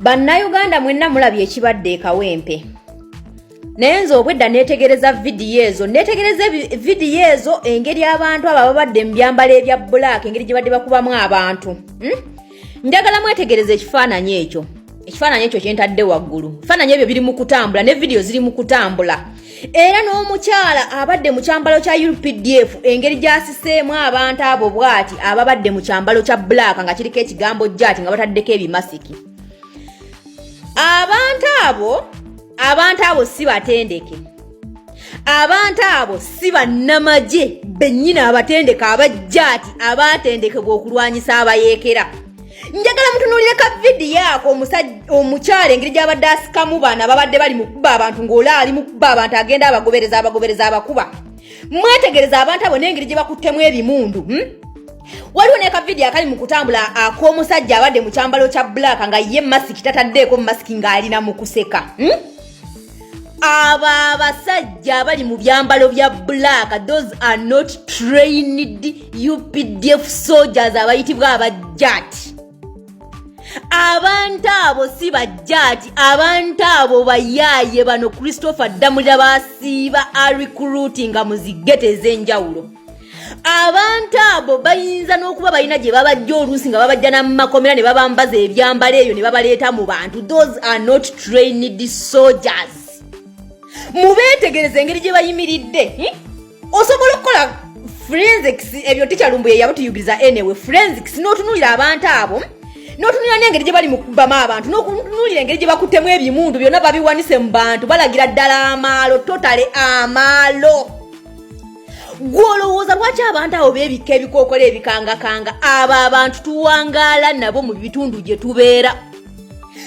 bannayuganda mwenna mulabye ekibadde ekawempe naye nze obwedda neetegereza vidiyo ezo neetegereza vidiyo ezo engeri abantu abo ababadde mu byambalo ebya bulaaka engeri gye badde bakubamu abantu hmm? njagala mwetegereza ekifaananyi ekyo ekifaananyi ekyo kyentadde waggulu ebifaananyi ebyo biri mu kutambula ne vidiyo ziri mu kutambula era n'omukyala abadde mu kyambalo kya updf engeri gyasiseemu abantu abo bwati ababadde mu kyambalo kya black nga kiriko ekigambo jati nga bataddeko ebimasiki abantu abo abantu abo si batendeke abantu abo si bannamagye bennyini abatendeke abajjaati abaatendekebwa okulwanyisa abayeekera njagala mutunuulire ka vidiyo ako omukyala engeri gyabadde asikamu baana babadde bali mu kuba abantu ng'ola ali mu kuba abantu agenda abagobereza abagobereza abakuba mwetegereza abantu abo n'engeri gye bakuttemu ebimundu hmm? waliwo ne ka vidiyo akali mu kutambula ak'omusajja abadde mu kyambalo kya bbulaaka nga ye masiki tataddeeko mu masiki ng'alina mu kuseka hmm? abo abasajja abali mu byambalo bya black those are not trained updf soldiers abayitibwa abajjati abantu abo si bajjaati abantu abo bayaaye bano christopher ddamulira basiiba arikuruuti nga muzigete ez'enjawulo abantu abo bayinza n'okuba balina gye babajja oluusi nga babajja namakomera ne babambaza ebyambalo eyo ne babaleeta mu bantu those are not trained soldiers mubeetegereza engeri gye bayimiridde hmm? osobola okukola forensics ebyo tikyalumbu ye yabutuyugiriza anyway forensics n'otunuulira abantu abo hmm? n'otunuulira n'engeri gye bali mu kubamu abantu n'okunuulira engeri gye bakuttemu ebimundu byonna babiwanise mu bantu balagira ddala amaalo totale amaalo gwe olowooza lwaki abantu abo beebikka ebikookolo ebikangakanga abo abantu tuwangaala nabo mu bitundu gye tubeera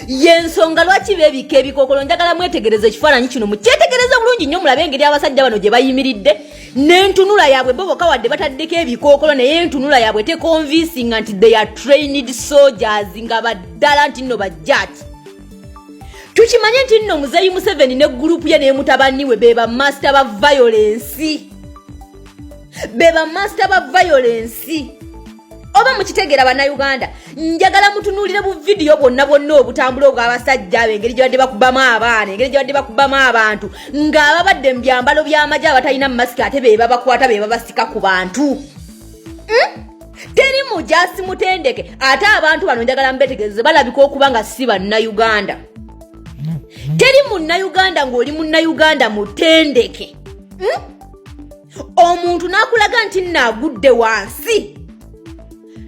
yensonga lwaki beebikka ebikookolo njagala mwetegereza ekifaananyi kino mukyetegereza bulungi nnyo mulabe engeri abasajja bano gye bayimiridde n'entunula yaabwe bo boka wadde bataddeko ebikookolo naye entunula yaabwe tekonvinsinga nti they are trained soldiers nga baddala nti nno bajjaati tukimanye nti nno muzeyi museveni ne gurupu ye naye mutabani we be bamasita ba violensi be bamasita ba violensi oba mukitegeera bannayuganda njagala mutunuulire bu vidiyo bwonna bwonna obutambula obw'abasajja abo engeri gyebadde bakubamu abaana engeri gyebadde bakubamu abantu ng'ababadde mu byambalo by'amagye abatalina mu masiki ate be babakwata be babasika ku bantu hmm? teri mujasi mutendeke ate abantu bano njagala mbetegeze balabika okuba nga si bannayuganda teri munnayuganda ng'oli munnayuganda mutendeke hmm? omuntu n'akulaga nti naagudde wansi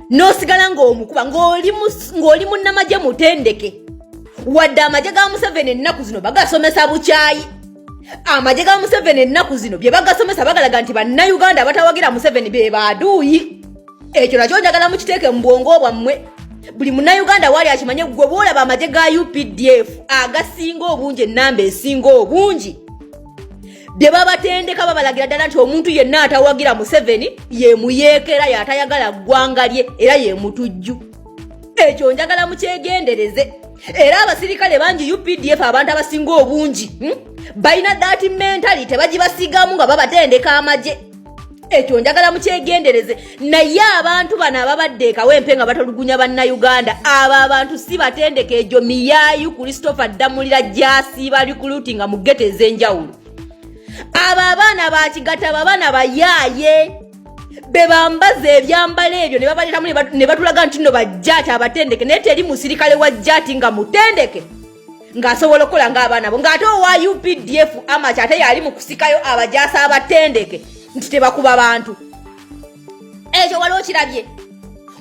n'osigala ng'omukuba ng'oli munnamagye mutendeke wadde amagye ga museveni ennaku zino bagasomesa bukyayi amagye ga museveni ennaku zino bye bagasomesa bagalaga nti bannayuganda abatawagira museveni be baaduuyi ekyo nakyo njagala mukiteeke mu bwongo bwammwe buli munnayuganda waali akimanye gwe bwolaba amagye ga updf agasinga obungi ennamba esinga obungi bye babatendeka babalagira ddala nti omuntu yenna atawagira museveni yemuyeekera yaatayagala ggwanga lye era yemutujju ekyo njagala mukyegendereze era abasirikale bangi updf abantu abasinga obungi hmm? balina dati mentali tebagibasigamu nga babatendeka amagye ekyo njagala mukyegendereze naye abantu bano ababadde ekawempe nga batolugunya bannayuganda abo abantu si batendeka egyo miyayu christopher ddamulira gyasiiba likuluti nga mugete ez'enjawulo abo abaana bakigata babaana bayaaye bebambaza ebyambalo ebyo nebabaletamu nebatulaga nti no bajjaati abatendeke naye teri musirikale wa jjaati nga mutendeke ng'asobola okukola ng'abaana bo ng'ate owa updf amaky ate yali mu kusikayo abajasa abatendeke nti tebakuba bantu ekyo wali okirabye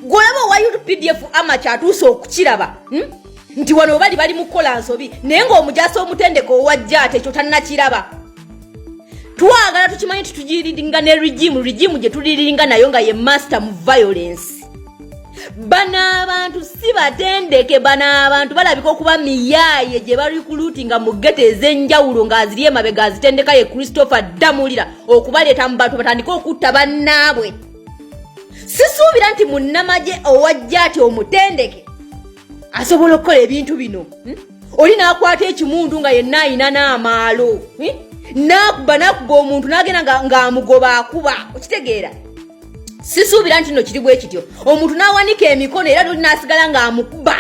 gwolaba owa updf amaky atuuse okukiraba hmm? nti wano bali bali mu kukola nsobi naye ng'omujasa omutendeke owajja ate ekyo tannakiraba twagala tukimanyi titujiringa ne regimu regimu gye tuliringa nayo nga ye master mu violence bano abantu si batendeke bano abantu balabika okuba miyaaye gye barikuluti nga mugete ez'enjawulo ng'aziri emabega azitendeka ye christopher damulira okubaleeta mu bantu batandike okutta bannaabwe sisuubira nti munnamagye owajja ati omutendeke asobola okukola ebintu bino hmm? oli n'akwata ekimundu nga yenna ayina n'amaalo eh? nakuba nakuba omuntu nagenda ngaamugoba akuba okitegeera sisuubira nti no kiri bwe kityo omuntu n'awanika emikono era noli n'asigala ng'amukuba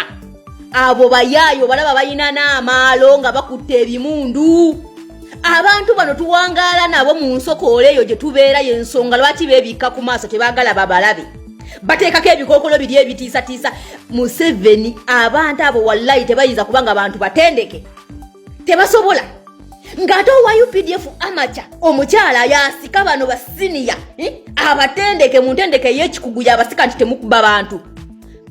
abo bayaayo balaba balina n'amaalo nga bakutte ebimundu abantu bano tuwangaala nabo mu nsokoola eyo gye tubeera y'ensonga lwaki beebikka ku maaso tebaagala babalabe bateekako ebikookolo biri ebitiisatiisa museveni abantu abo wallayi tebayinza kuba nga bantu batendeke tebasobola ng'ate owa updf amaca omukyala yasika bano basiniya eh, abatendeke mu ntendeke ey'ekikugu yabasika nti temukuba bantu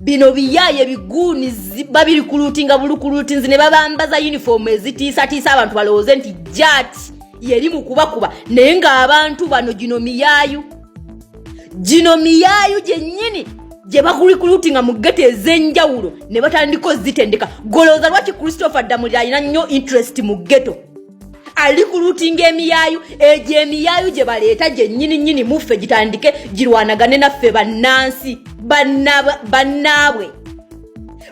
bino biyaye biguuni ziba biri kuluutinga bulukuluutinzi ne babambaza yunifoomu ezitiisatiisa abantu balowooze nti jaati yeri mu kubakuba naye ng'abantu bano gino miyayu gino miyaayu gyennyini gye bakulikulutinga mu gete ez'enjawulo ne batandika ozitendeka golowooza lwaki christopher ddamulira alina nnyo interest mu geto ali kulutinga emiyaayu egyo emiyaayu gye baleeta gyennyini nnyini muffe gitandike girwanagane naffe bannansi bannaabwe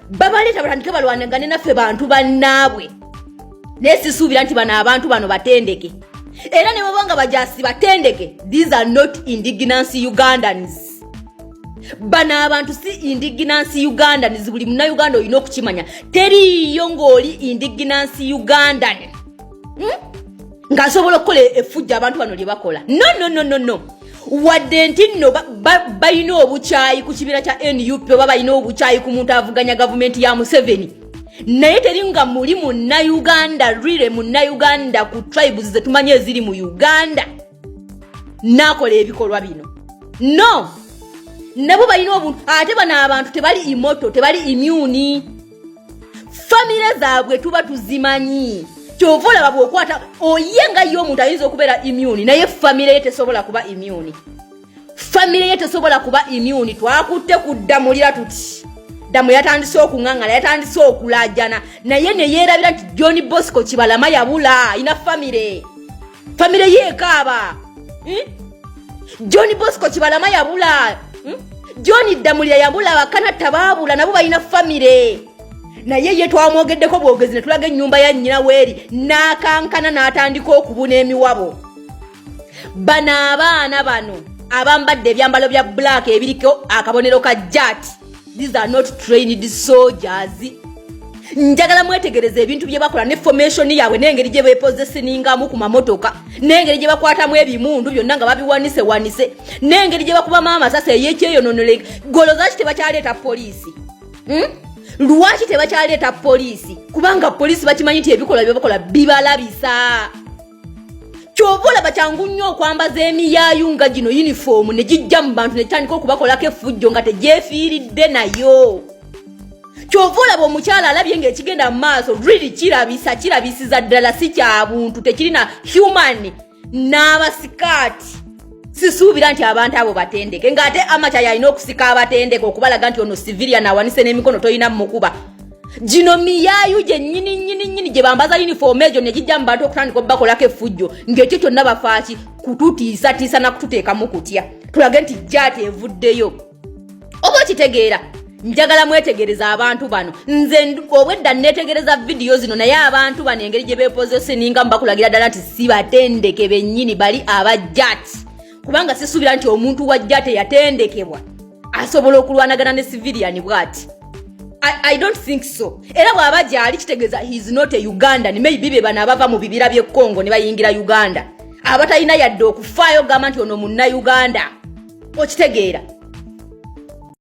babaleeta batandike balwanagane naffe bantu bannaabwe naye sisuubira nti bano abantu bano batendeke era ne baba nga bajasi batendeke these are not indignancy ugandans bano abantu si indignancy ugandans buli muna uganda olina okukimanya teriiyo ng'oli indignancy ugandan hmm? ng'asobola okukola efujja abantu bano lye bakola no no no no no wadde nti nno balina obukyayi ku kibiina kya nup oba balina obukyayi ku muntu avuganya gavumenti ya museveni naye teri nga muli munnauganda rire munnauganda ku tribes zetumanyi eziri mu uganda nakola ebikolwa bino no nabo balina obuntu ate bano abantu tebali imoto tebali imuni famire zaabwe tuba tuzimanyi kyova olaba bwokwata oye nga ye omuntu ayinza okubeera imuni naye famire ye tesobola kuba imuni famire ye tesobola kuba imuni twakutte kuddamulira tuti damu yatandise okungangala yatandise okulajana naye neyerabira nti john bosco kibalama yabula ina famire famire yekaaba hmm? john bosco kibalama yabula hmm? john ddamulira yabula bakanatta baabula nabo balina famire naye ye twamwogeddeko bwogezi ne tulaga ennyumba ya nnyina weeri n'akankana n'atandika okubuna emiwabo bano abaana bano abambadde ebyambalo bya black ebiriko akabonero ka jat these are not trained soldiers njagala mwetegereza ebintu bye bakola ne formation yaabwe n'engeri gye bepozesingamu ku mamotoka n'engeri gye bakwatamu ebimundu byonna nga babiwanise wanise n'engeri gye bakubamu amasasi eyekyeyononolenga golo zaki tebakyaleeta poliisi hmm? lwaki tebakyaleeta poliisi kubanga poliisi bakimanyi nti ebikolwa bye bakola bibalabisa kyova olaba kyangu nnyo okwambaza emiyaayu nga gino yunifoomu ne gijja mu bantu ne gitandika okubakolako effujjo nga tegyefiiridde nayo kyova olaba omukyala alabye ng'ekigenda mu maaso riri kirabisa kirabisiza ddala si kya buntu tekirina human n'abasikaati sisuubira nti abantu abo batendeke ng'ate amaca yalina okusika abatendeke okubalaga nti ono civilian awanise n'emikono tolina mukuba gino miyayu gyennyini nnyini nnyini gye bambaza yunifoomu egyo ne gijja mu bantu okutandika obubakolako effujjo ng'ekyo kyonna bafaaki kututiisatiisa na kututeekamu kutya tulage nti jaati evuddeyo oba okitegeera njagala mwetegereza abantu bano nze obwedda netegereza vidiyo zino naye abantu bano engeri gye bepozeseninga mubakulagira ddala nti si batendeke bennyini bali aba jat kubanga sisuubira nti omuntu wa jat eyatendekebwa asobola okulwanagana ne civilian bwati I don't think so era bwaba gyali kitegeeza he is not a ugandan maybe be bano abava mu bibira by'e congo ne bayingira uganda abatalina yadde okufaayo gamba nti ono munnauganda okitegeera